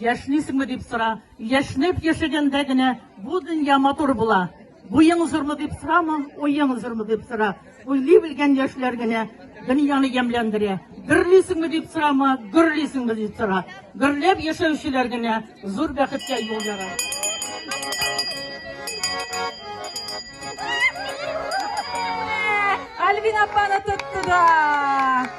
Яшнисеңме дип сора. Яшнеп яшәгәндә генә бу дөнья матур була. Буең зурмы дип сорама, уең зурмы дип сора. Уйлый белгән яшьләр генә дөньяны ямьләндерә. Гөрлисеңме дип сорама, гөрлисеңме дип сора. Гөрләп яшәүчеләр генә зур бәхеткә юл яра. Альбина апаны тотты да.